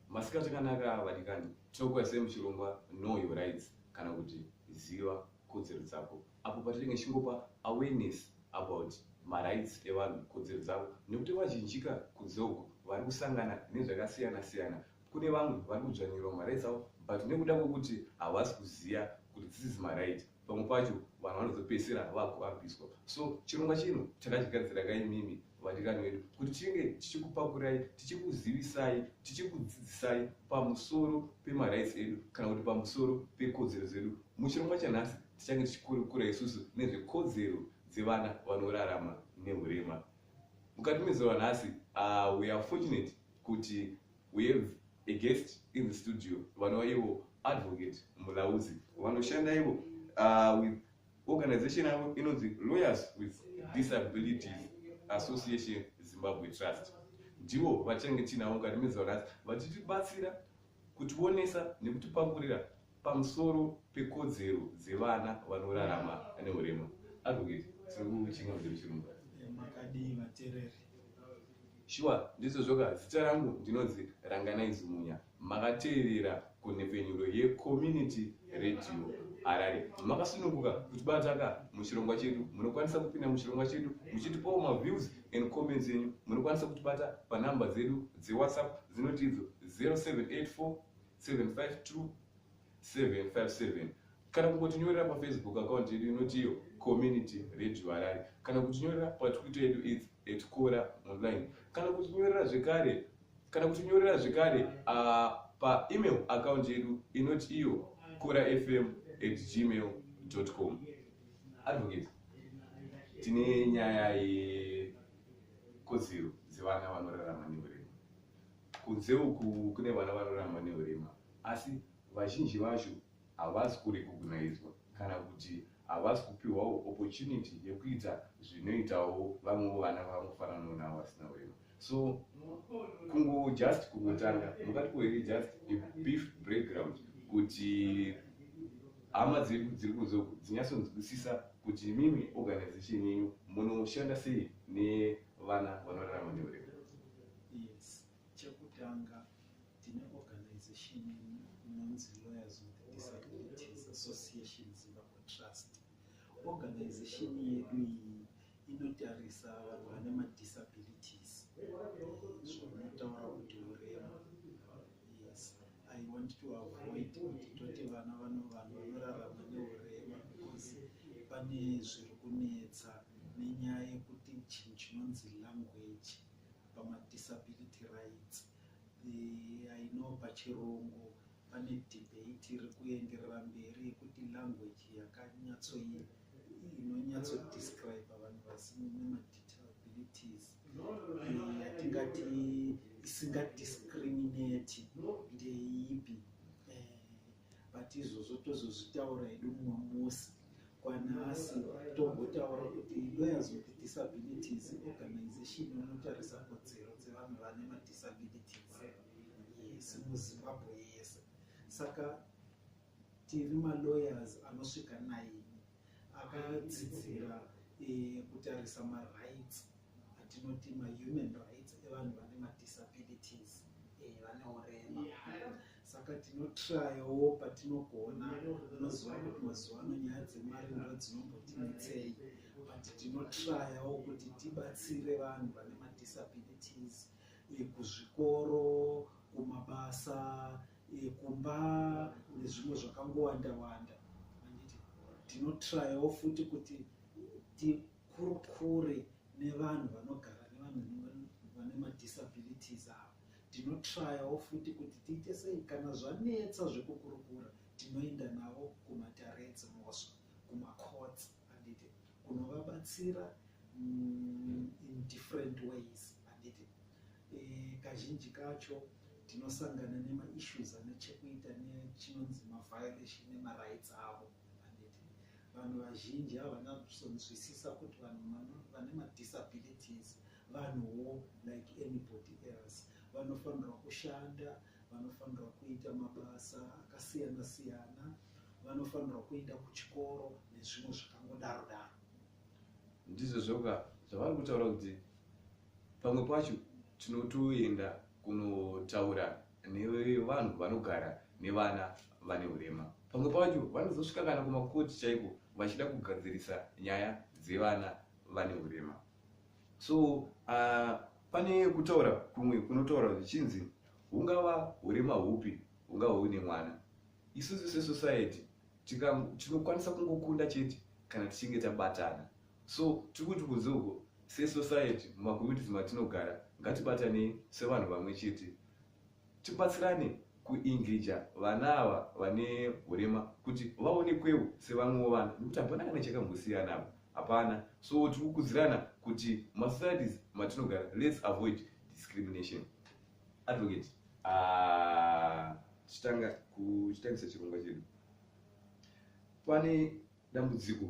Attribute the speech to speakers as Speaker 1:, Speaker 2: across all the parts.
Speaker 1: Masikati kanaka vadikani, tinokuya sei muchirongwa Know Your Rights kana kuti Ziva Kodzero Dzako, apo patinenge tichingopa awareness about marights evanhu, kodzero dzavo, nekuti vazhinjika kunze uko vari kusangana nezvakasiyana siyana. Kune vamwe vari kudzvanyirwa marights avo but nekuda kwekuti havasi kuziva kuti this is my right, pamwe pacho vanhu vanozopedzisira vakuabhiswa so chirongwa chino takachigadzira ka imimi vadikani vedu kuti tinge tichikupakurai tichikuzivisai tichikudzidzisai pamusoro pemarights edu kana kuti pamusoro pekodzero dzedu muchirongwa chanhasi tichange tichikurukura isusu nezvekodzero dzevana vanorarama neurema mukati mezuva nhasi uh, we are fortunate kuti We have a guest in the studio vanova ivo advocate mulauzi vanoshanda ivo uh, with organization yavo inonzi lawyers with disabilities association zimbabwe trust ndivo vachange tinavo mukati mezaurasi vachitibatsira kutionesa nekutipakurira Pamusoro pekodzero dzevana vanorarama nehurema, Advocate, tiri kuchinga kuti muchirungu. Makadii
Speaker 2: vatereri?
Speaker 1: Shuwa, ndizvo zvoka. Zita rangu ndinonzi Ranganai Zumunya. Makateerera kunhepfenyuro yeCommunity Radio Harare. Makasununguka kutibata ka muchirongwa chedu. Munokwanisa kupinda muchirongwa chedu muchitipawo maviews and comments enyu. Munokwanisa kutibata panhamba dzedu dzeWhatsApp dzinoti idzo 0784 757 kana kungotinyorera pafacebook account yedu inoti iyo community radio harare kana kutinyorera patwitter yedu is at cora online kana kutinyorera zvekare kana kutinyorera zvekare uh, paemail account yedu inoti iyo cora fm at gmail com advocate tine nyaya yekodzero dzevana vanorarama neure Kunze uku kune vana vanorarama nehurema asi vazhinji vacho havasi kurekognaidzwa kana kuti havasi kupiwawo opportunity yekuita zvinoitawo vamwewo vana vanofananawo navo vasina hurema so kungo just kungotanga mukati kuhere just beef breakground kuti hama dzedu dziri kunze uku dzinyatsonzwisisa kuti imimi organization yenyu munoshanda sei nevana vanorarama nehurema Yes,
Speaker 2: chekutanga tine organization inonzi Lawyers with Disabilities Association Zimbabwe Trust. Organization yedu iyi inotarisa vanhu vane madisabilities zvinotaura kuti urema yes i want to avoid kuti toti vana vano vanhu vanorarama neurema because pane zviri kunetsa nenyaya yekuti chinhu chinonzi language pamadisability rights eh, i know pachirungu pane debate iri kuenderera mberi yekuti language yakanyatsoye inonyatsodescribe vanhu vasine madisabilities eh, yatingati isingadiscriminate ndeipi but izvozvo tozozvitaura hedu mumwe musi kwanhasi tombotaura kuti lawyers with disabilities organization inotarisa kodzero dzevanhu vane madisabilities yes muzimbabwe yese saka tiri malawyers anosvika naini akadzidzira eh, kutarisa marights atinoti mahuman rights evanhu vane madisabilities eh, vane urema saka tinotrayawo patinogona unoziva kuti mazuva ano nyaya dzemari ndo dzinombotinetsei but tinotrayawo kuti tibatsire vanhu vane madisabilities eh, kuzvikoro kumabasa eh, kumba nezvimwe zvakangowanda wanda anditi tinotrayawo futi kuti tikurukure nevanhu vanogara nevanhu vane madisabilities ava Tinotrayawo futi kuti tiite sei kana zvanetsa zvekukurukura tinoenda navo kumatare edzimhosva kumacourts handiti kunovabatsira mm, in different ways handiti e, kazhinji kacho tinosangana nemaissues ane chekuita nechinonzi maviolation nemarights avo handiti vanhu vazhinji havana kusonzwisisa kuti vanhu vane madisabilities vanhuwo like anybody else vanofanirwa kushanda vanofanirwa kuita mabasa akasiyana siyana vanofanirwa kuenda kuchikoro nezvimwe zvakangodaro daro ndizvo
Speaker 1: zvoka zvavari kutaura kuti pamwe pacho tinotoenda kunotaura nevanhu vanogara nevana vane urema pamwe pacho vanozosvika kana kumakoti chaiko vachida kugadzirisa nyaya dzevana vane urema so uh, pane kutaura kumwe kunotaura zvichinzi hungava hurema hupi hungava huine mwana isusu sesociety tinokwanisa kungokunda chete kana tichinge tabatana so tiri kuti kunze uko sesociety mumakomitis matinogara ngatibatanei sevanhu vamwe chete Tibatsirane kuengija vana ava vane hurema kuti vaonekwewo sevamwewo vana nekuti hapana kana chakambosiyana apa hapana so tiri kukudzirana kuti masocieties matinogara let's avoid discrimination advocate ah, tichitanga kuchitangisa chirongwa chedu pane dambudziko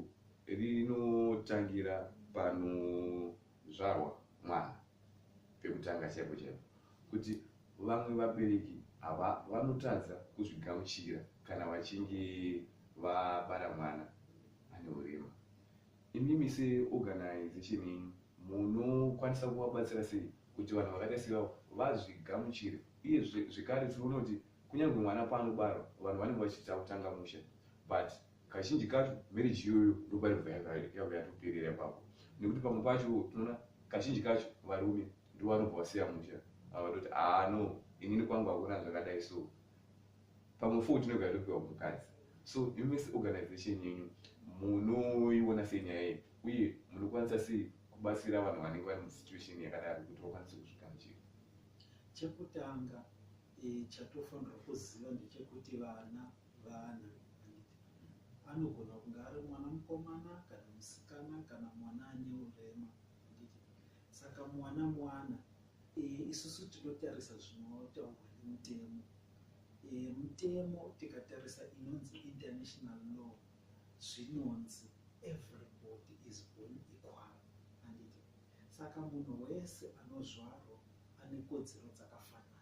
Speaker 1: rinotangira pano kuzvarwa mwana pekutanga chaipo chaipo kuti vamwe vabereki hava vanotadza kuzvigamuchira kana vachinge vabara mwana ane urema imimi seorganization yenyu munokwanisa kuvabatsira sei kuti vanhu vakaita sevavo vazvigamuchire iye zvekare tiri unoti kunyange mwana paanobarwa vanhu vanenge vachiita kutanga musha but kazhinji kacho marriage iyoyo ndopainobva yabva yatoperera ipapo nekuti pamwe pacho tinoona kazhinji kacho varume ndivo vanobva vasiya musha avatoti aa ah, no inini kwangu hakuna zvakadai so pamwe fo tinobva yatopiwa mukadzi so imi seorganization yenyu munoiona sei nyaya iyi uye munokwanisa sei kubatsira vanhu vanenge vari musituation yakadaro kuti vakwanise kuzvigamuchira
Speaker 2: chekutanga eh, chatofanirwa kuziva ndechekuti vana e, vana anogona kunge ari mwana mukomana kana musikana kana mwana ane urema saka mwana mwana eh, isusu tinotarisa zvinotaurwa nemutemo eh, mutemo tikatarisa inonzi international law zvinonzi everybody is born equal anditi saka munhu wese anozvarwa ane kodzero dzakafanana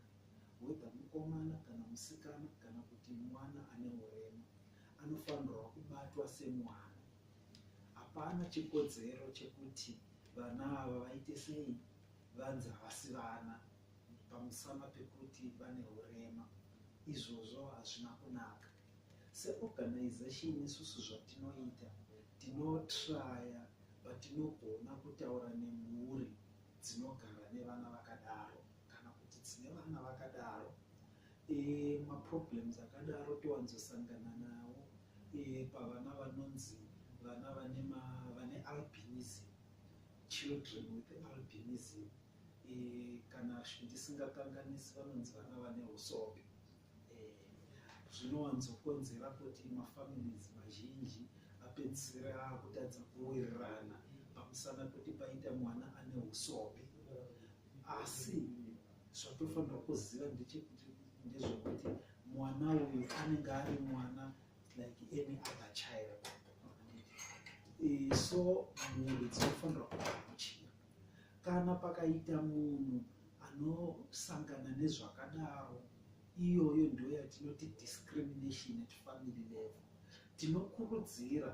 Speaker 2: whether mukomana kana musikana kana kuti mwana ane urema anofanirwa kubatwa semwana. Hapana chikodzero chekuti vana ava vaite sei vanzi havasi vana pamusana pekuti vane urema. Izvozvo hazvina kunaka. Seorganization isusu zvatinoita tinotraya patinogona kutaura nemhuri dzinogara nevana vakadaro. kana kuti dzine vana vakadaro e, maproblems akadaro towanzosangana nawo e, pavana vanonzi vana vane vane albinism children with albinism e, kana zvindisingakanganisi vanonzi vana vane usope zvinowanzokonzera kuti mafamilies mazhinji apedzisira kutadza kuwirirana pamusana kuti paita mwana ane usobe asi zvatofanira kuziva ndechekuti ndezvekuti mwana uyu anenge ari mwana like any other child so mhuri dzinofanira kuamuchira Kana pakaita munhu anosangana nezvakadaro, iyoyo ndiyo yatinoti discrimination at family level. Tinokurudzira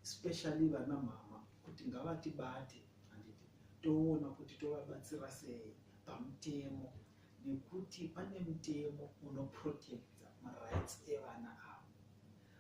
Speaker 2: especially vana mama kuti ngavatibate handiti toona kuti tovabatsira sei pamutemo nekuti pane mutemo unoprotecta marights evana avo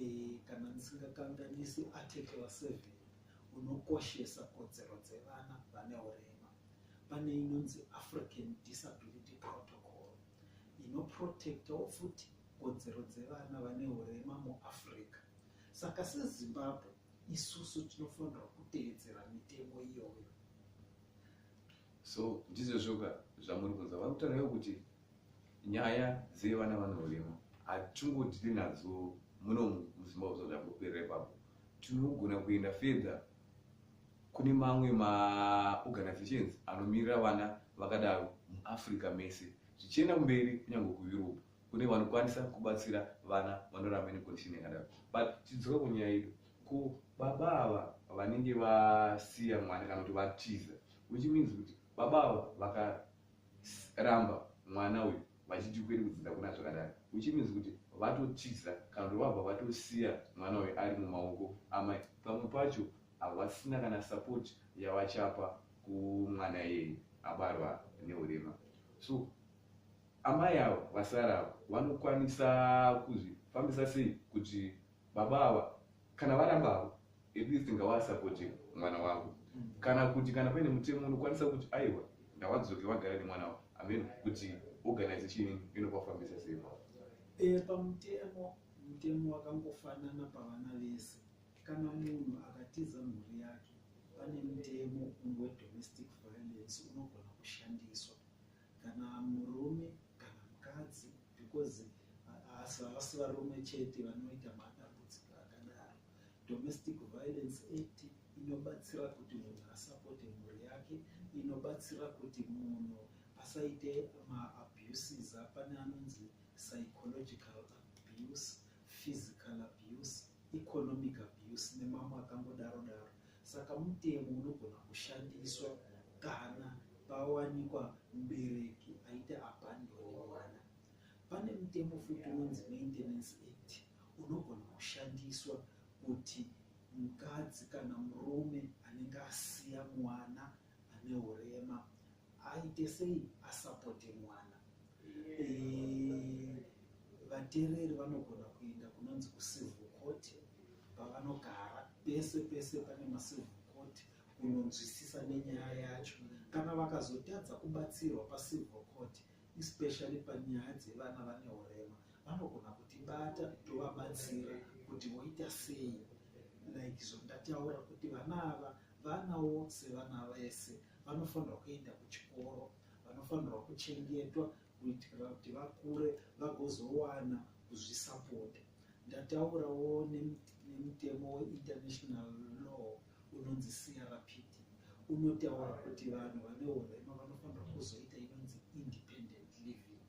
Speaker 2: e, kana ndisingakanganisi article 7 unokoshesa kodzero dzevana vane urema pane inonzi african disability protocol inoprotectawo futi kodzero dzevana vane urema muafrica saka sezimbabwe isusu tinofanirwa kuteedzera mitemo iyoyo so
Speaker 1: ndizvozvoka zvamuri kunza vari kutauraiwo kuti nyaya dzevana vanohurema hatingodiri nadzo muno muzimbabwe zva zvangoperera ipapo tinogona kuenda fedha kune mamwe maorganizations anomirira vana vakadaro muafrica mese zvichienda kumberi kunyange kueurope kune vanokwanisa kubatsira vana vanoramba necondition yakadaro but tidzoka kunyaya yedu Ko baba ava vanenge vasiya mwana kana kuti vatiza which means kuti baba ava vakaramba mwana uyu vachiti kuende kudzidza kuna zvakadaro which means kuti vatotiza kana kuti vabva vatosiya mwana uyu ari mumaoko amai pamwe pacho havasina kana support yavachapa kumwana iyeye abarwa neurema so amai avo vasara avo vanokwanisa kuzvifambisa sei kuti baba ava kana varamba avo at least ngavasapote mwana wavo kana kuti kana paine mutemo unokwanisa kuti aiwa ngavadzoke vagare nemwana wavo ameno kuti organize chii inopafambisa sei eh, pamutemo
Speaker 2: mutemo wakangofanana pavana vese kana munhu akatiza mhuri yake pane mutemo umwe domestic violence unogona kushandiswa kana murume kana mukadzi because haasi havasi varume chete vanoita madambudziko akadaro domestic violence act inobatsira kuti munhu asapote mhuri yake inobatsira kuti munhu asaite maabuses apane anonzi psychological abuse physical abuse economic abuse nemamwe akangodaro daro Saka mutemo unogona kushandiswa kana pawanikwa mubereki aita abandoni mwana. Pane mutemo futi unonzi Maintenance Act unogona kushandiswa kuti mukadzi kana murume anenge asiya mwana ane urema aite sei asapote mwana eh, vatereri vanogona kuenda kunonzi kucivil court pavanogara pese pese pane macivil court kunonzwisisa nenyaya yacho kana vakazotadza kubatsirwa pacivil court especially panyaya dzevana vane urema vanogona kutibata tovabatsira kuti voita sei like zvondataura kuti vana ava vana vose vana vese vanofanirwa kuenda kuchikoro vanofanirwa kuchengetwa kuitira kuti vakure vagozowana kuzvisapota ndataurawo nemutemo weinternational law unonzi crpd unotaura kuti vanhu vane urema vanofanirwa kuzoita inonzi independent living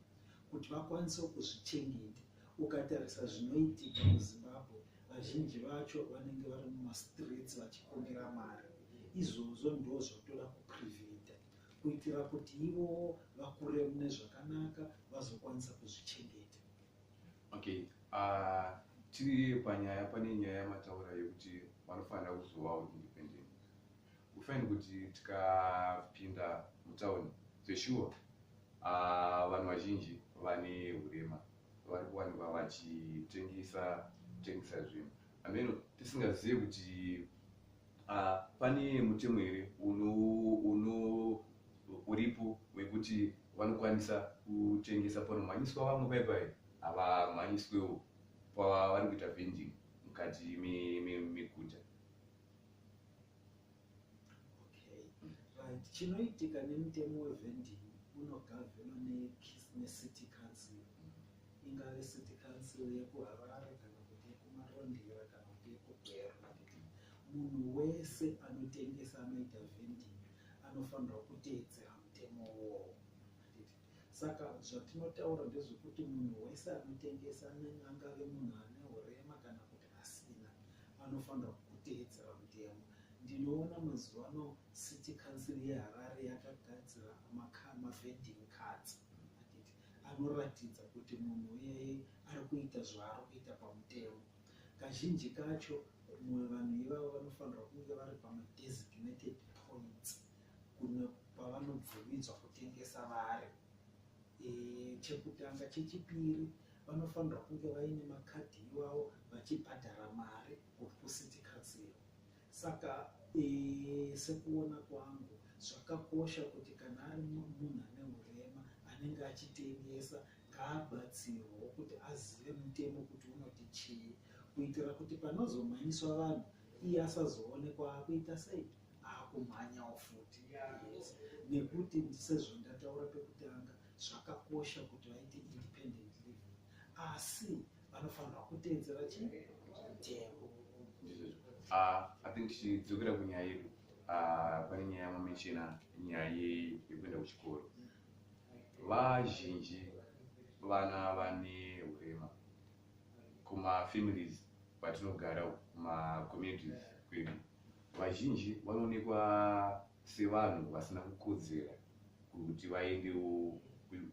Speaker 2: kuti vakwanisewo kuzvichengeta Ukatarisa zvinoitika muZimbabwe, vazhinji vacho vanenge vari mumastreets vachikumbira mari. Izvozvo ndozvatoda kupreventa kuitira kuti ivowo vakure mune zvakanaka vazokwanisa kuzvichengeta. Okay.
Speaker 1: Uh, tiri panyaya pane nyaya yamataura yekuti vanofanira kuzovawo independent. Kufaini kuti tikapinda mutauni zveshuwa ah, vanhu vazhinji vane urema vari kuwanikwa vachitengesa tengesa zvinhu ameno tisingazive kuti ah, pane mutemo here uno uno uripo wekuti vanokwanisa kutengesa panomhanyiswa vamwe paipai havamhanyiswewo pavari kuita vending mukati meguta me, me,
Speaker 2: chinoitika nemutemo wevending unogavenwa necity council ingave city council yekuharare kana kuti yekumarondera kana kuti yekugwera munhu wese anotengesa anoita vending anofanirwa kuteedzera mutemo wowo saka zvatinotaura ndezvekuti munhu wese anotengesa angave munhu ane urema kana kuti pasina anofanira kuteedzera mutemo ndinoona mazuva ano city council yeharare yakagadzira mavending cards anoratidza kuti munhu uyeye ari kuita zvaari kuita pamutemo kazhinji kacho mumwe vanhu ivavo vanofanirwa kunge vari pamadesignated points kuno kwavanobvumidzwa kutengesa vari e, chekutanga chechipiri vanofanirwa kunge vaine makadhi iwawo vachibhadhara mari kuti kusitikatsiwa saka e, sekuona kwangu zvakakosha kuti kana ari munhu ane urema anenge achitengesa ngaabatsirwawo kuti azive mutemo kuti unoti chii kuitira kuti panozomhanyiswa vanhu iye asazoonekwa akuita sei akumhanyawo futi nekuti ndisezvo ndataura pekutanga zvakakosha kuti vaite independent living asi vanofanirwa kuteedzera chitemo
Speaker 1: ah, i think tichidzokera kunyaya yedu ah, pane nyaya yamamechena nyaya yekuenda kuchikoro vazhinji vana vane urema kumafamilies kwatinogara kumacommunities kwedu vazhinji vanoonekwa sevanhu vasina kukodzera kuti vaendewo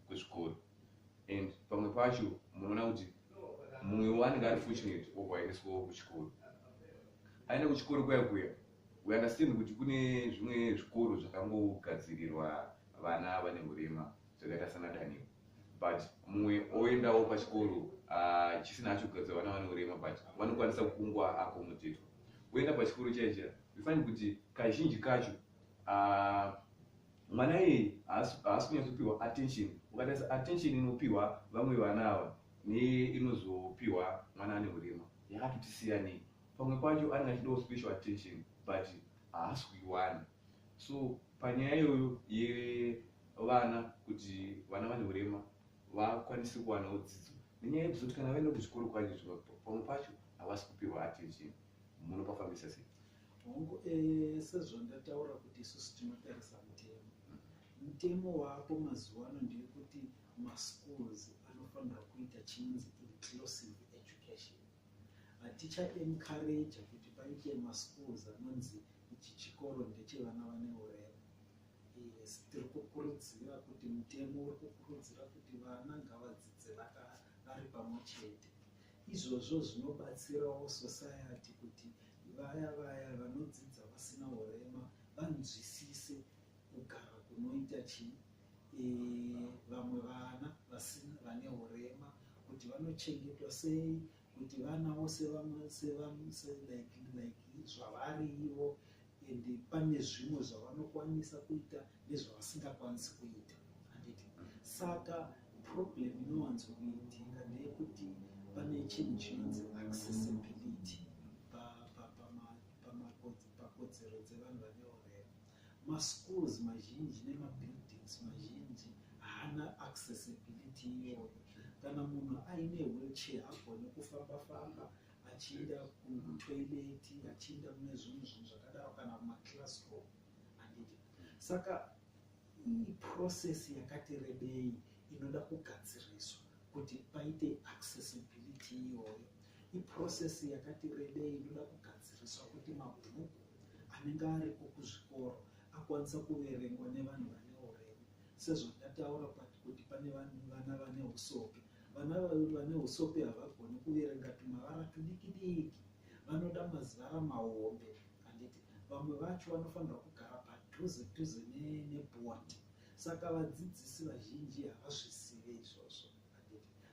Speaker 1: kuzvikoro and pamwe pacho munoona kuti mumwe waanenge ari fortunate obva aendeswawo kuchikoro aenda kuchikoro kuya kuya we understand kuti kune zvimwe zvikoro zvakangogadzirirwa vana vane urema zvakaita sana daniel but mumwe oendawo pachikoro ah, chisina acho kugadzira vana vane urema but vanokwanisa kukungwa akomotetwa woenda pachikoro chaiye chaiye you find kuti kazhinji kacho uh, mwana iyeye haasi kunyatsopiwa attention ukatarisa attention inopiwa vamwe vana ava neinozopiwa mwana ane urema yakatoti siyanei pamwe pacho anenge achidawo special attention but haasi kuiwana so panyaya iyoyo yevana kuti vana vane urema vakwanisi kuwanawo dzidzo nenyaya yekuti zoti kana vaenda kuchikoro kwacho zviva pamwe pacho havasi kupihwa attention munopafambisa sei hongu eh,
Speaker 2: sezvandataura kuti isusu tinotarisa mutemo mutemo waapo mazuva ano ndeyekuti maschools anofanira kuita chinonzi inclusive education haticha encourage kuti paite maschools anonzi ichi chikoro ndechevana vane urema Yes, tiri kukurudzira kuti mutemo uri kukurudzira kuti vana ngavadzidze vari pamwe chete. Izvozvo zvinobatsirawo society kuti vaya vaya vanodzidza vasina urema vanzwisise kugara kunoita chii e, vamwe vana vane urema kuti vanochengetwa sei kuti vana vose vamwese vamuse like like zvavari ivo and pane zvimwe zvavanokwanisa kuita nezvavasingakwanisi kuita handiti saka problem inowanzo kuitika ndeyekuti pane chinhu chinonzi accessibility pakodzero dzevanhu vane maschools mazhinji nemabuildings mazhinji haana accessibility iyoyo kana munhu aine wheelchair agone kufamba famba achienda kutoileti achienda mune zvimwe zvinhu zvakadaro kana kumaclassroom anditi saka iprocess yakati rebei inoda kugadziriswa kuti paite accessibility iyoyo iprocess yakati rebei inoda kugadziriswa kuti mabhuku anenge ariko kuzvikoro akwanisa kuverengwa nevanhu vane uremu sezvandataura kuti pane vana vane usope vana vane usope havagoni kuverenga tumavara tudiki diki vanoda mazivara mahombe handiti vamwe vacho vanofanira kugara padhuze dhuze nebhondi saka vadzidzisi vazhinji havazvisive izvozvo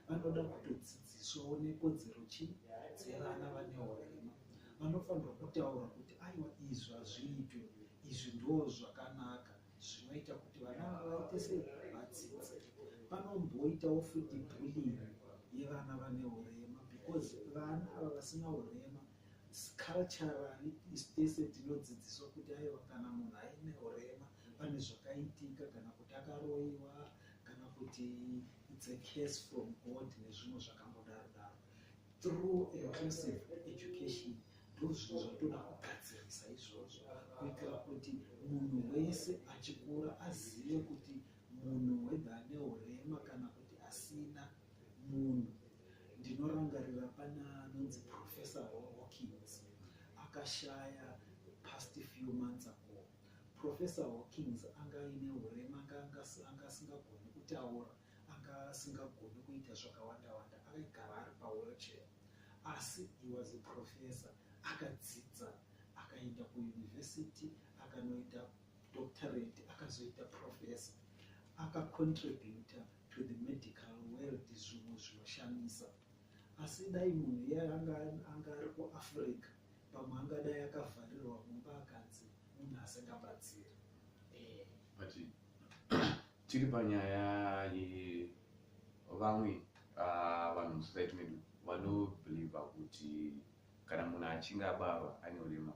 Speaker 2: vanoda kutodzidziswawo nekodzero chii dzevana vane urema vanofanirwa kutaura kuti aiwa izvi hazviitwe izvi ndo zvakanaka zvinoita kuti vana vaite se vadzidze panomboitawo futi bullying yevana vane urema because vana ava vasina urema culturally isu tese tinodzidziswa kuti aiwa kana munhu aine urema pane zvakaitika kana kuti akaroiwa kana kuti it's a case from god nezvimwe zvakangodaro daro through inclusive education ndozvinhu zvatoda kugadzirisa izvozvo kuitira kuti munhu wese achikura azive kuti munhu wedha ane urema kana kuti asina munhu ndinorangarira pana anonzi professor hawkins akashaya past few months ago Professor Hawkins anga aine hurema anga anga asingagoni kutaura, anga asingagoni kuita zvakawanda wanda, akaigara ari pawheelchair. Asi he was a professor, akadzidza akaenda kuuniversity akanoita doctorate akazoita professor akacontributa to the medical world zvimwe zvinoshamisa asi dai munhu iye anga ari kuafrica pamwe angadai akavharirwa mumba akanzi munhu asingabatsiri
Speaker 1: eh. but tiri panyaya yevamwe ah, vanhu musociety medu vanobeliva kuti kana munhu achinge abarwa ane urema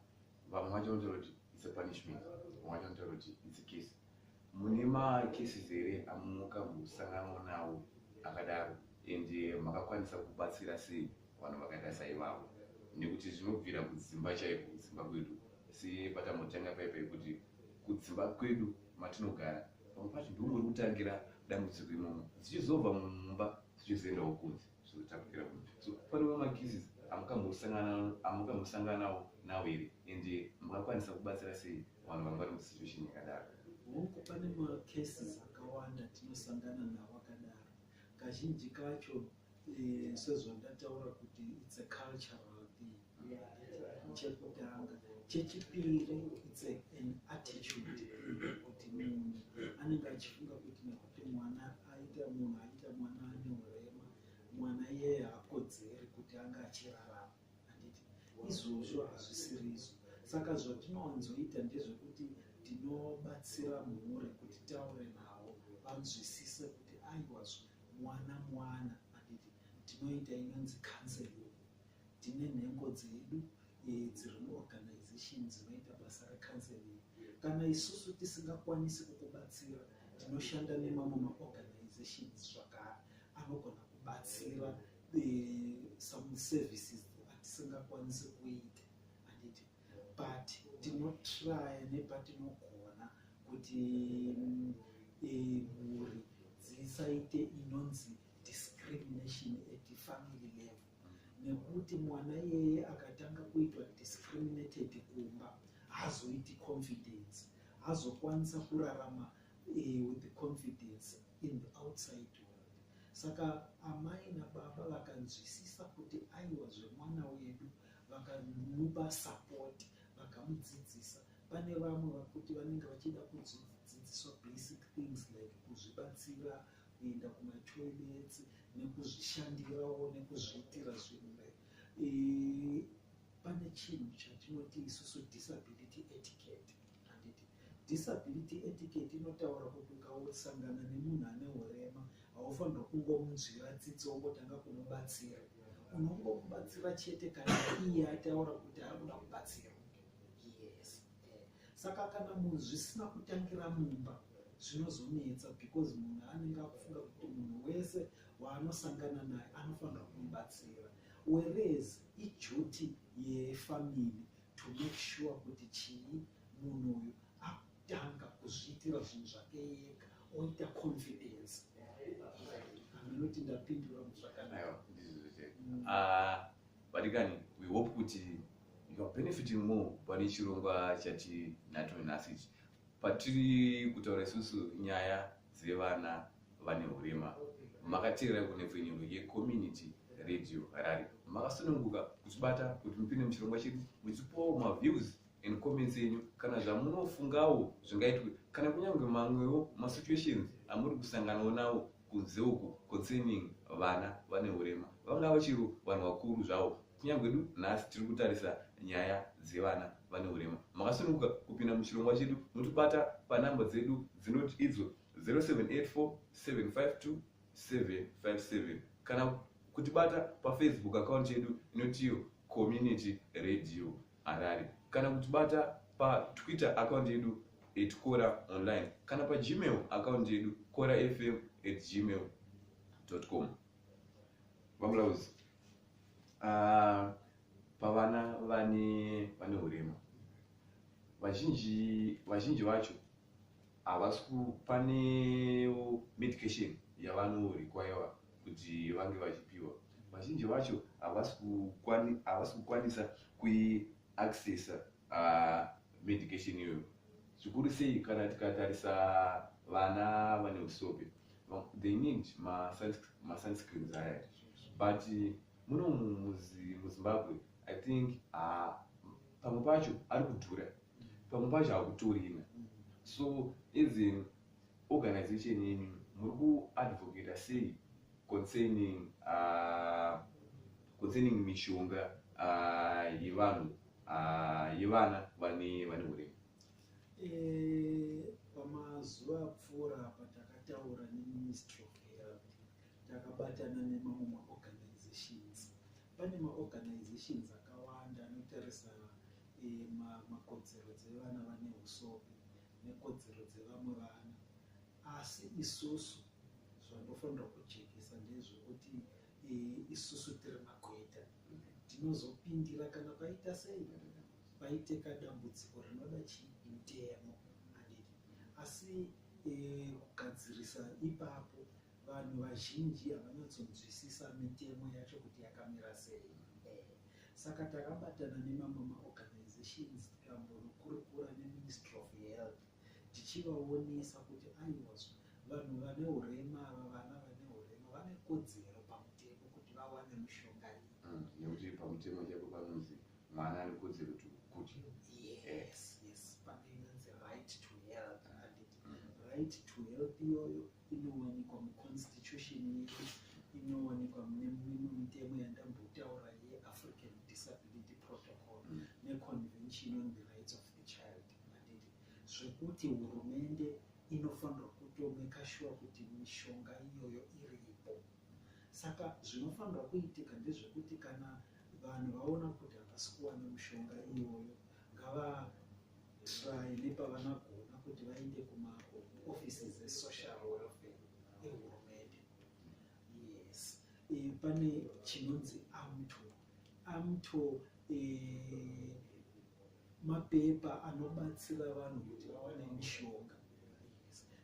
Speaker 1: vamwe vacho vanotaura kuti its a punishment vamwe vacho vanotaura kuti its a case mune makesi zere amuka musangano nawo akadaro and makakwanisa kubatsira sei vanhu vakaita saivavo nekuti zvinobvira kudzimba chaiko kudzimba kwedu sepatamotanga paipa yekuti kudzimba kwedu matinogara pamwe pacho ndiwo muri kutangira dambudziko imomo dzichizobva mumba dzichizoendawo kunze zvizotapukira mu so panewo macases amukamhosanganawo nawo here and mungakwanisa kubatsira sei vanhu vanga vari musituation yakadaro hoko pane
Speaker 2: macases akawanda tinosangana nawo akadaro Kazhinji kacho eh, sezvandataura kuti it's a cultural thing chekutanga chechipiri it's a, an attitude kuti munhu anenge achifunga kuti nekuti mwana aita munhu aita mwana ane urema mwana iyeye haakodzeri kuti anga achirarama handiti izvozvo hazvisiri izvo saka zvatinowanzoita ndezvekuti tinobatsira mhuri kuti taure navo vanzwisise kuti aiwazvo mwana mwana handiti tinoita inonzi counseling tine nhengo dzedu eh, dziri muorganization dzinoita basa recounseling kana isusu tisingakwanisi kukubatsira tinoshanda nemamwe maorganizations zvakare anogona kubatsira some services atisingakwanisi kuita anditi but tinotraya nepatinogona kuti mm, eh, mhuri dzisaite inonzi discrimination at family level nekuti mwana iyeye akatanga kuitwa discriminated kumba hazoiti confidence hazokwanisa kurarama eh, with the confidence in the outside world saka amai nababa vakanzwisisa kuti aiwa zvemwana wedu vakamupa support vakamudzidzisa pane vamwe vakuti vanenge vachida kudzidziswa basic things like kuzvibatsira kuenda kumatoilets nekuzvishandirawo nekuzviitira zvimwe eh, pane chinhu chatinoti isusu disability etiquette handiti disability etiquette inotaura kuti ukasangana nemunhu ane urema haufanirwa kungomunzwira tsitsi wongotanga kumubatsira unongomubatsira chete kana iye ataura kuti ari kuda kubatsira yes saka kana munhu zvisina kutangira mumba zvinozonetsa because munhu anenge akufunga kuti munhu wese waanosangana naye anofanira kumubatsira whereas ijuti yefamily to make sure kuti chii munhu uyu akutanga kuzviitira zvinhu zvake yega oita confidence anoti ndapindura muzvakanaka
Speaker 1: vadikani ah, we hope kuti youare benefiting more pane chirongwa chatinacho nhasi ichi Patiri kutaura isusu nyaya dzevana vane hurema makateerera kunepfenyuro yecommunity radio harare makasununguka kutibata kuti mupinde muchirongwa chedu muchipawo maviews and comments enyu kana zvamunofungawo zvingaitwe kana kunyange mamwewo masituations amuri kusanganawo nawo kunze uku concerning vana vane urema vangava chero vanhu vakuru zvavo kunyange du nhasi tiri kutarisa nyaya dzevana vane urema makasununguka kupinda muchirongwa chedu motibata panamba dzedu dzinoti idzo 0784752757 kana kutibata pafacebook account yedu inotiyo community radio Harare kana kutibata paTwitter account yedu at Kora Online kana paGmail account yedu korafm at gmail.com. Vamulaudzi, uh, ah, pavana vane vane urema vazhinji vazhinji vacho havasi kupane medication yavanorequire kuti vange vachipiwa vazhinji vacho havasi kukwanisa kuiaccessa uh, medication iyoyo zvikuru sei kana tikatarisa vana vane usope they need masunscreens aya but muno muzimbabwe i think uh, pamwe pacho ari kudhura pamwe pacho hakutorina so as an organization yenyu muri kuadvocata sei concerning uh, concerning mishonga uh, yevanhu uh, yevana vane vane urema eh,
Speaker 2: pamazuva apfuura apa takataura neministry of health takabatana nemamwe maorganizations Pane maorganizations akawanda anotarisa eh, makodzero dzevana vane usopi nekodzero dzevamwe vana asi isusu zvandofanira kujekesa ndezvekuti eh, isusu tiri magweta tinozopindira kana paita sei paiteka dambudziko rinoda chii mutemo asi eh, kugadzirisa ipapo Vanhu vazhinji havanyatsonzwisisa mitemo yacho kuti yakamira sei. Eh, saka takabatana nemamwe maorganizations tikambonokurukura neMinistry of Health tichivaonesa kuti aiwazvo vanhu vane urema ava vana vane urema vane kodzero pamutemo kuti vawane mushonga iyi. Mm, nekuti pamutemo
Speaker 1: chako panonzi mwana ane kodzero kuti kuti. Yes,
Speaker 2: yes, pane inonzi right to health, mm. right to health iyoyo inowanikwa muconstitution yedu inowanikwa mune mimwe mitemo yandambotaura yeafrican disability protocol mm. neconvention on the rights of the child manditi zvekuti hurumende inofanirwa kutomeka shuwa kuti mishonga iyoyo iripo saka zvinofanirwa kuitika ndezvekuti kana vanhu vaona kuti havasi kuwana mishonga iyoyo ngava Try nepavanagona kuti vaende kuma offices esocial welfare ehurumende. Yes. E, pane chinonzi amto amto e, eh, mapepa anobatsira vanhu kuti vawane mishonga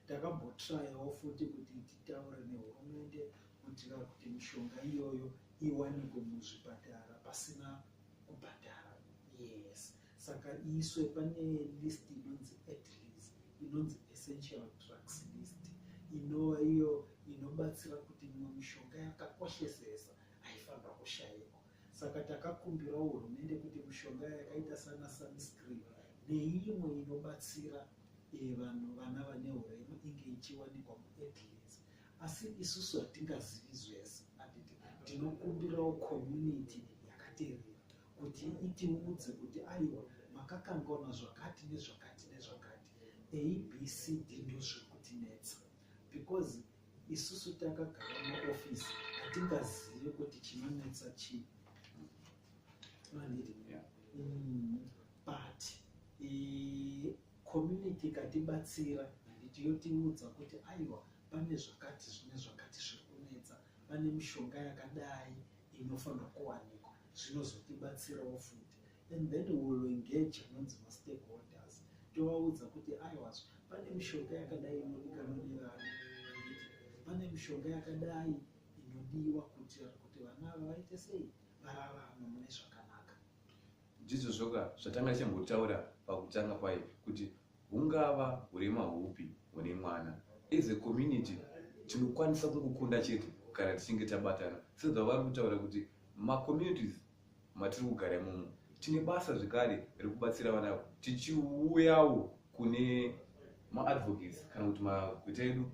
Speaker 2: takambotrayawo futi kuti titaure nehurumende kuitira kuti mishonga iyoyo iwanikwe muzvipatara pasina kubhadhara yes saka iiswe pane list inonzi at least inonzi essential drugs list inova iyo inobatsira kuti imwe mishonga yakakoshesesa haifanira kushaikwa saka takakumbira hurumende kuti mishonga yakaita sana sunscreen neimwe inobatsira eh, vanhu vana vane urema inge ichiwanikwa muadlins asi isusu hatingazivi zvese tinokumbirawo community yakaterera kuti itiudze kuti aiwa makakangaona zvakati nezvakati nezvakati abcd ndozviri kutinetsa because isusu takagara muofisi hatingazivi kuti chinonetsa chii mm, but community ikatibatsira handiti yotiudza kuti aiwa pane zvakati zvine zvakati zviri kunetsa pane mishonga yakadai inofanira kuwanikwa zvinozotibatsirawo futi and then we will engage anonzi mastakeholders tovaudza kuti aiwazvo pane mishonga yakadai inodikanwa nevana pane mishonga yakadai inodiwa kuitira kuti vana ava vaite sei vararama mune zvakanaka ndizvo
Speaker 1: zvoka zvatanga tichambotaura pakutanga kwaye kuti hungava hurema hupi hune mwana as a community tinokwanisa kungokunda chete kana tichinge tabatana sezvavari kutaura kuti macommunities matiri kugara imomo tine basa zvekare rekubatsira vana avo tichiuyawo kune maadvocates kana kuti magweta edu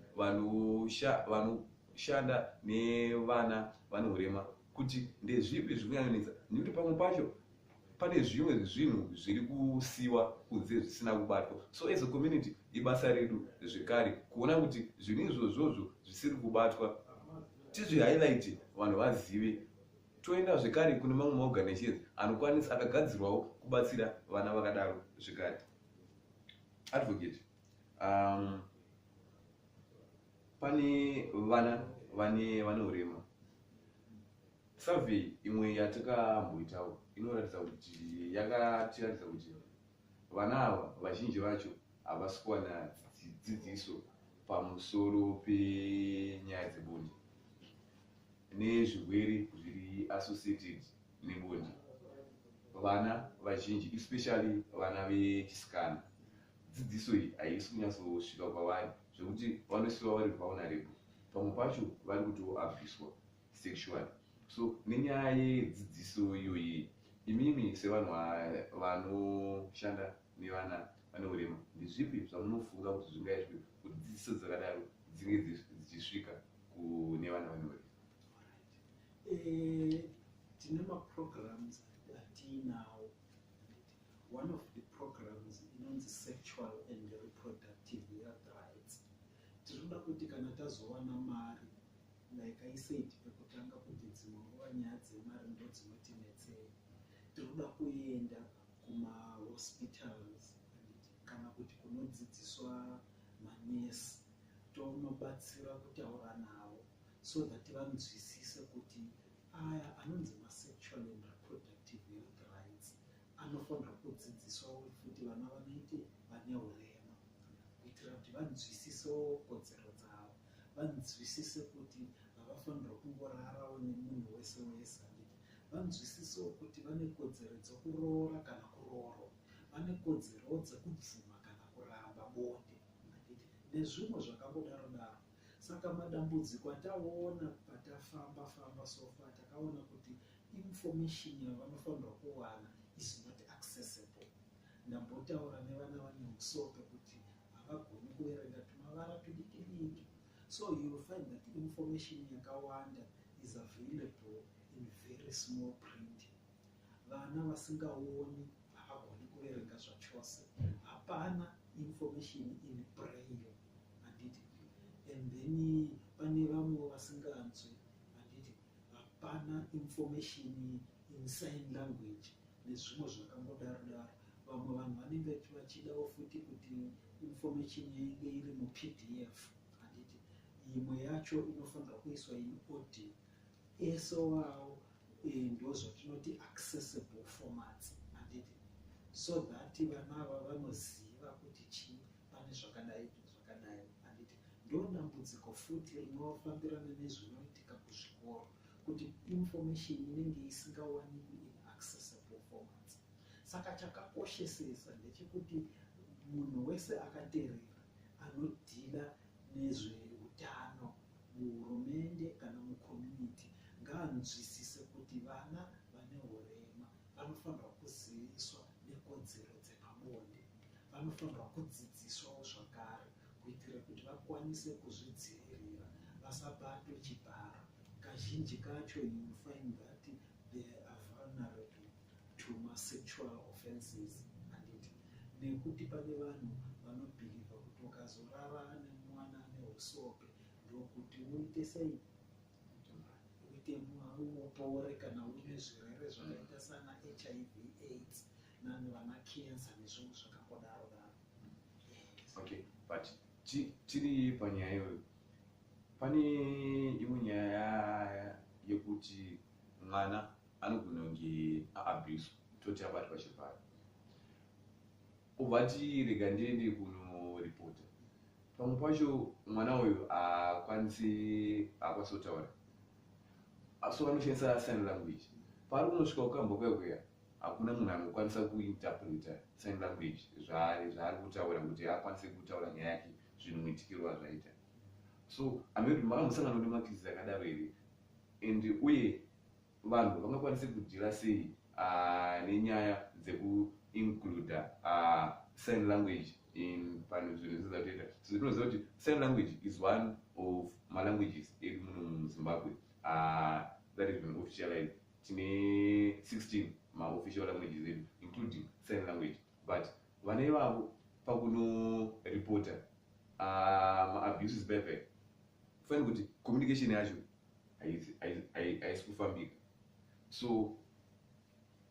Speaker 1: vanoshanda nevana vane urema kuti ndezvipi zviri kunyanyanisa nekuti pamwe pacho pane zvimwe zvinhu zviri kusiwa kunze zvisina kubatwa so as a community ibasa redu zvekare kuona kuti zvinhu izvozvozvo zvisiri kubatwa tizvihighlight vanhu vazive toenda zvekare kune mamwe maorganisations anokwanisa akagadzirwawo kubatsira vana vakadaro zvekare advocate um, pane vana vane vane urema survey imwe yatakamboitawo inoratidza kuti yakatiratidza kuti vana ava vazhinji vacho havasi kuwana dzidziso pamusoro penyaya dzebonde nezvirwere zviri associated nebonde vana vazhinji especially vana vechisikana dzidziso iyi haisi kunyatsosvika kwavari zvekuti vanosiwa vari vulnerable pamwe pacho vari kutoabviswa sexual so nenyaya yedzidziso iyoyi imimi sevanhu vanoshanda nevana vane urema ndizvipi zvamunofunga kuti zvingaitwe kuti dzidziso dzakadaro dzinge dzichisvika kune vana vane urema eh,
Speaker 2: tine maprograms atiinawo one of the programs inonzi sexual and reproductive health rights tinoda kuti kana tazowana mari like i said pekutanga kuti dzimwe nguva nyaya dzemari ndo dzinotinetsei tinoda kuenda kumahospitals kana kuti kunodzidziswa manesi tonobatsira kutaura navo so that vanzwisise kuti aya anonzi masexual and reproductive health rights anofanira kudzidziswawo futi vana vanoite vane urema kuitira kuti vanzwisisewo kodzero dzavo vanzwisise kuti havafanira kungorarawo nemunhu wese wese anditi vanzwisisewo kuti vane kodzero dzokuroora kana kuroorwa vane kodzerowo dzekubvuma kana kuramba bonde anditi nezvimwe zvakangodaro daro Saka madambudziko ataona patafamba famba so far takaona kuti information yavanofanirwa kuwana is not accessible. Ndambotaura nevana vane musope kuti havagoni kuverenga tumavara tudiki diki. So you will find that information yakawanda is available in very small print vana vasingaoni havagoni kuverenga zvachose hapana information in braille handiti and then pane vamwe vasinganzwi handiti hapana information in sign language nezvimwe zvakangodaro daro vamwe vanhu vanenge vachidawo futi kuti information yainge iri mupdf handiti imwe yacho inofanira kuiswa in audio ese wawo iyi ndozvatinoti accessible formats anditi so that vana ava vanoziva kuti chii pane zvakadai zvakadai anditi ndodambudziko futi rinofambirana nezvinoitika kuzvikoro kuti information inenge isingawanikwi in accessible formats saka chakakoshesesa ndechekuti munhu wese akaterera anodhila nezveutano muhurumende kana mucommunity ngaanzwisise kuti vana vane urema vanofanirwa kuziviswa nekodzero dzepabonde vanofanirwa kudzidziswawo zvakare kuitira kuti vakwanise kuzvidzivirira vasabatwe chibharo kazhinji kacho you find that they are vulnerable to masexual offenses anditi nekuti pane vanhu vanobhilivha kuti ukazorara nemwana ane usope ndokuti uite sei uite upore kana uine zvirwere zvakaita sana hiv aids nani vana cancer nezvimwe zvakangodaro daro
Speaker 1: okay but tiri panyaya iyoyo pane imwe nyaya yekuti mwana anogona kunge aabuse toti abatwa chirwere ubva ti rega ndiende kunoripota pamwe pacho mwana uyu haakwanisi haakwanisi kutaura so vanoshandisa sign language paari kunosvika kukamba kuya kuya hakuna munhu anokwanisa kuinterpreta sign language zvaari zvaari kutaura kuti haakwanise kutaura nyaya yake zvinhu muitikiro wazvaita so amekuti makambosanganoti makizi akadaro here and uye vanhu vangakwanise kudhira sei uh, nenyaya dzekuincluda uh, ah, sign language in panhu zvinhu zviza kutoita so tinoziva kuti sign language is one of malanguages edu muno muzimbabwe uh, that is been officialized tine 16 maofficial languages edu including sign language but vana ivavo pakunoreporta ah, maabuses paya paya kufanira kuti communication yacho haisi kufambika so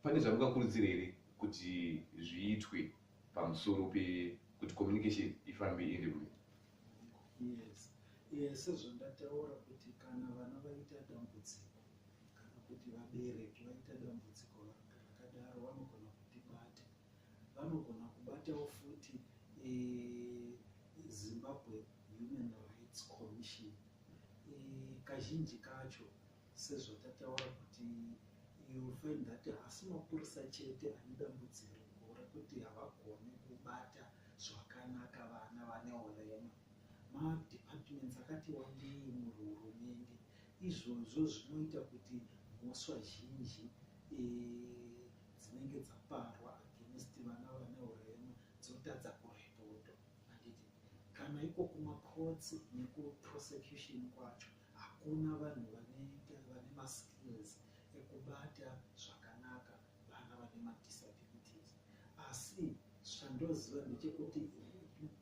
Speaker 1: pane zvamungakurudzira here kuti zviitwe pamusoro pekuti communication ifambe iende kune yes
Speaker 2: yes sezvandataura kuti kana vana vaita dambudziko Kana kuti vabereki vaita dambudziko rakadaro vanogona kutibata. Vanogona kubatawo futi eh, Zimbabwe Human Rights Commission. Eh, kazhinji kacho sezvatataura kuti you find that hasi mapurisa chete ane dambudziko rekuti havagoni kubata zvakanaka vana vane urema. Madepartments akati wandei muhurumende Izvozvo zvinoita kuti mhosva zhinji e, dzinenge dzaparwa against vana vane urema dzotadza kurepotwa. Handiti kana iko kumacourts nekuprosecution kwacho hakuna vanhu vane, vane maskills ekubata zvakanaka vana vane madisabilities asi zvandoziva ndechekuti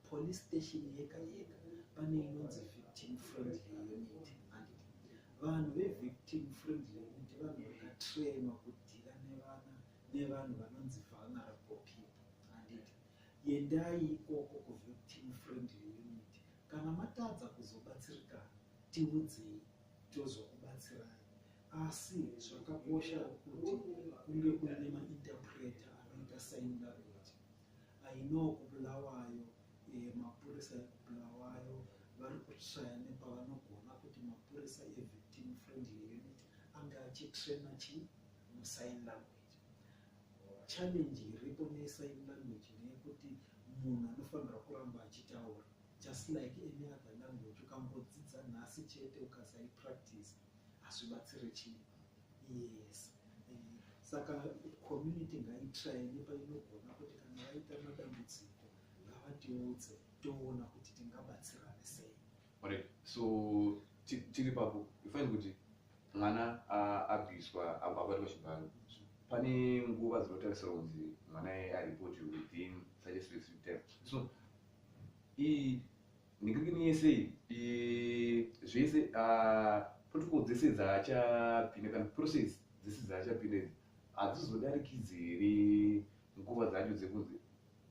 Speaker 2: police station yega yega pane inonzi victim friendly unit andit vanhu vevictim friendly unit vanhu vakatrainwa kudhira nevana nevanhu vanonzi vulnerable people andit yendai ikoko kuvictim friendly unit kana matadza kuzobatsirikana tiudzei tozokubatsirai asi zvakakosha kuti kunge kuine mainterpreter anoita sign language i know kubulawayo eh, mapurisa ekubulawayo vari kushaya nepavanogona kuti mapurisa evictim friendly unit ange achitraina chi musign language challenge iripo nesign language neyekuti munhu anofanira kuramba achitaura just like any other language ukangodzidza nhasi chete ukasaipractice hazvibatsire chii yes eh, saka community ngaitrai nepainogona kuti kana vaita madambudziko ngavatiudze toona kuti tingabatsirane sei right so
Speaker 1: tiri papo ifaini kuti mwana abviswa abatwa chibharo pane nguva dzinotarisirwa kunzi mwana aripotiwe within such a specific time so ii nigirigini yese ii zvese ah, protocol dzese dzaachapinda kana process dzese dzaachapinda idzi hadzizodarikidzi here nguva dzacho dzekunzi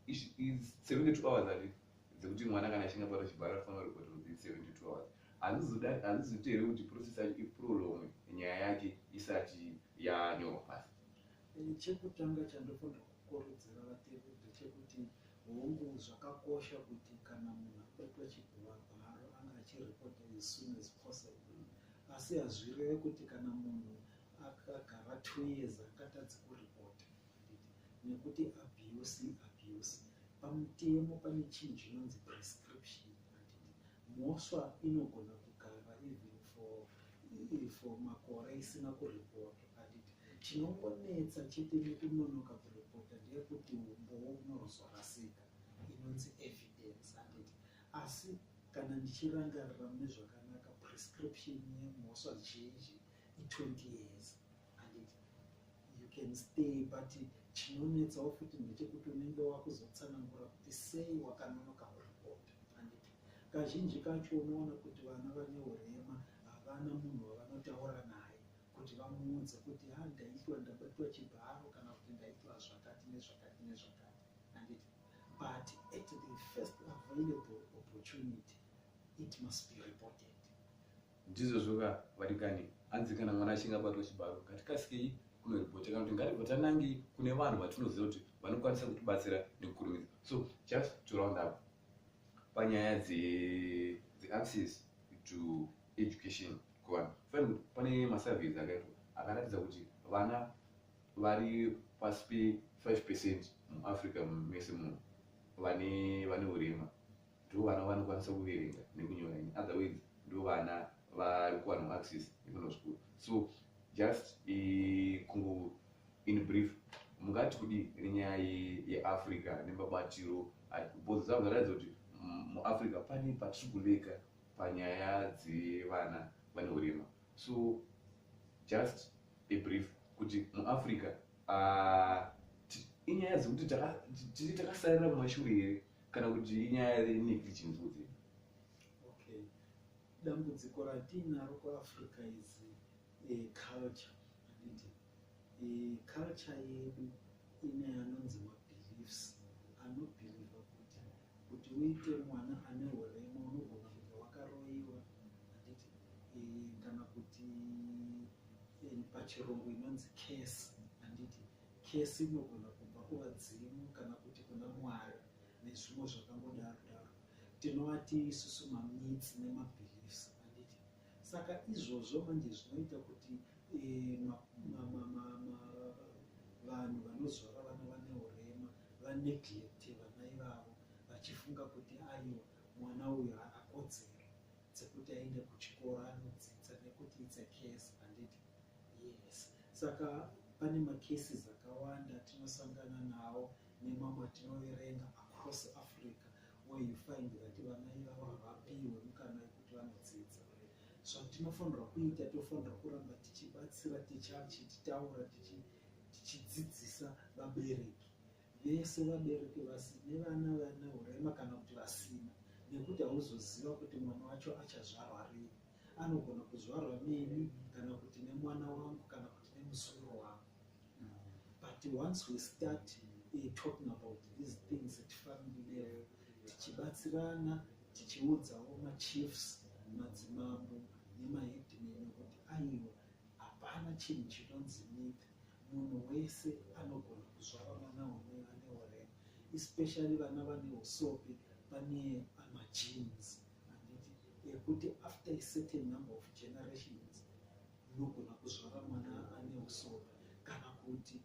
Speaker 1: ish- i- 72 hours ati dzekuti mwana kana achinge apata chibharo anofanira report within 72 hours Hadzizoda- hadzizoite here kuti process yacho iprolonge nyaya yake isati yanyorwa pasi chekutanga
Speaker 2: chandofanira kukurudzira vatendi ndechekuti hongu zvakakosha kuti kana munhu abatwa chiguvagwaro anga achiripota as soon as possible asi hazvireve kuti kana munhu akagara two years akatadzi kuripota nekuti abuse abuse pamutemo pane chinhu chinonzi prescription Mhosva inogona kugara even for iri for makore isina kuripotwa but chinongonetsa chete nekunonoka kuripota ndeyekuti umbowo unozorasika inonzi evidence handiti asi kana ndichirangarira mune zvakanaka prescription yemhosva zhinji i20 years handiti you can stay but chinonetsawo futi ndechekuti unenge wakuzotsanangura kuti sei wakanonoka kuripota anditi kazhinji kacho unoona kuti vana vane urema havana munhu wavanotaura naye kuti vamuudze kuti ha ah, ndaitwa ndabatwa chibharo kana kuti ndaitwa zvakati nezvakati nezvakati anditi but at the first available opportunity it must be reported Ndizvozvo
Speaker 1: ka varingani, hanzi kana mwana achinge abatwa chibaro ngatikasikeyi kunoripota kana kuti ngatibva tanange kune vanhu vatinoziva kuti vanokwanisa kutibatsira nekukurumidza. So just to round up panyaya dze, dze access to education kuvanhu fanira kuti pane masurveys akaitwa akaratidza kuti vana vari pasi pe 5 percent muafrica mese muno vane vane urema ndivo vana vanokwanisa kuverenga nekunyora ini otherwise ndivo vana vari kuwana maaxis ekuno school so just kungo in brief mungati kudi nenyaya yeafrica nemabatiro bhodzo dzavo dzataridza kuti mm, muafrica pane patiri kuleka panyaya dzevana vane urema so just a brief kuti muafrica uh, inyaya dzekuti tiri takasarira kumashure here kana kuti inyaya yeniki chimbudzi okay
Speaker 2: dambudziko ratiinaro kuafrica is a culture anditi culture yedu ine anonzi mabeliefs anobhiliva kuti kuti uite mwana ane urema unogona kunge wakaroiwa anditi kana kuti pachirungu inonzi case anditi Kesi inogona kubva kuvadzimu kana kuti kuna Mwari nezvimwe zvakangodaro daro. Tinovati isusu mamitsi nemabeliefs handiti? Saka izvozvo manje zvinoita kuti eh, vanhu vanozvara vana vane urema vaneglecte vana ivavo vachifunga kuti ayo mwana uyo haana kodzero dzekuti aende kuchikoro anodzidza nekuti it's a case handiti? Yes. Saka pane macases akawanda tinosangana nawo nemamwe atinoverenga across Africa where you find that vana ivavo havapiwe mukana yekuti vanodzidza. Zvatinofanirwa kuita tofanirwa kuramba tichibatsira tichitaura tichidzidzisa vabereki vese vabereki vasi nevana vane urema kana kuti vasina nekuti hauzoziva kuti mwana wacho achazvarwa rini anogona kuzvarwa neni kana kuti nemwana wangu kana kuti nemusoro wangu but once we start uh, talking about these things at family level tichibatsirana tichiudzawo machiefs madzimambo nemaheadman kuti aiwa hapana chinhu chinonzi myth munhu wese anogona kuzvara vana one vane orema especially vana vane usope pane amajeans uh, handiti yekuti after a certain number of generations unogona kuzvara mwana ane usoro kana kuti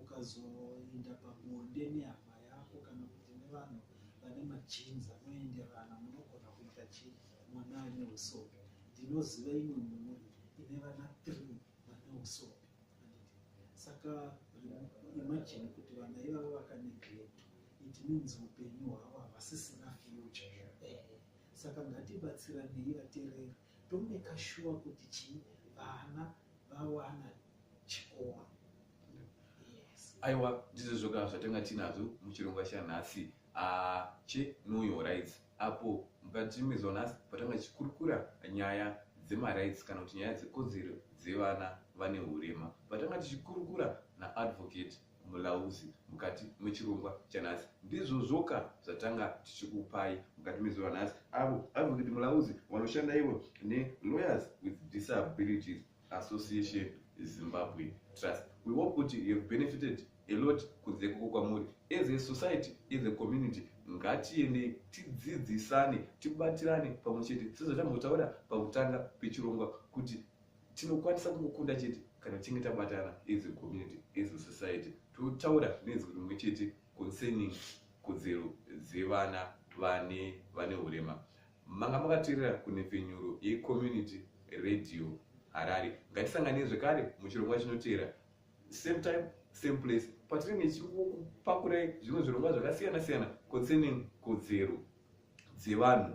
Speaker 2: ukazoenda pabonde nehama yako kana kuti nevanhu vane majins anoenderana munogona kuita chii mwana ane usoro ndinoziva imwe mhuri ine vana three vane usoro handiti saka imajini kuti vana ivavo vakaneglect it means upenyu hwavo havasisina future zvapere saka ngatibatsiranei vatereri tomeka shuwa kuti chii vana vawana chikoro
Speaker 1: aiwa ndizvo zvoka zvatonga tinazvo muchirongwa chanhasi ah, che know your rights apo mukatiimizwa nhasi patanga tichikurukura nyaya dzemarights kana kuti nyaya dzekodzero dzevana vane urema patanga tichikurukura naadvocate mulauzi mukati mechirongwa chanhasi ndizvozvoka zvatanga tichikupai mukati mezuva nhasi avo advocate mulauzi vanoshanda ivo nelawyers with disabilities association zimbabwe trust we hope kuti you have benefited a lot kunze ikoko kwamuri as a society as a community ngatiendei tidzidzisane tibatirane pamwe chete sezvatambotaura pakutanga pechirongwa kuti tinokwanisa kumukunda chete kana tichinge tabatana as a community as a society totaura nenzwi rimwe chete concerning kodzero dzevana vane vane urema manga makateerera kunhepfenyuro yecommunity radio harare ngatisanganei zvekare muchirongwa chinoteera same time same place patiri nechikupakurai zvimwe zvirongwa zvakasiyana siyana concerning kodzero dzevanhu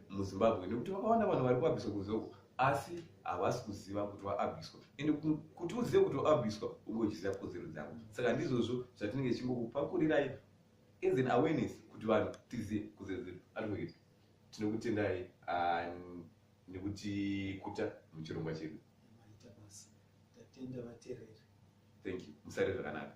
Speaker 1: muzimbabwe nekuti vakawanda vanhu vari kuabhiswa kunzoko asi havasi kuziva kuti vaabhiswa ende kuti uzive kuti vaabhiswa ungochiziva kodzero dzavo saka ndizvozvo zvatinenge tichingokupakurirayai as an awareness kuti vanhu tizive kodzero dzedu advocate tinokutendai ah, nekuti kuta muchirongwa chedu thank
Speaker 2: you
Speaker 1: musare zvakanaka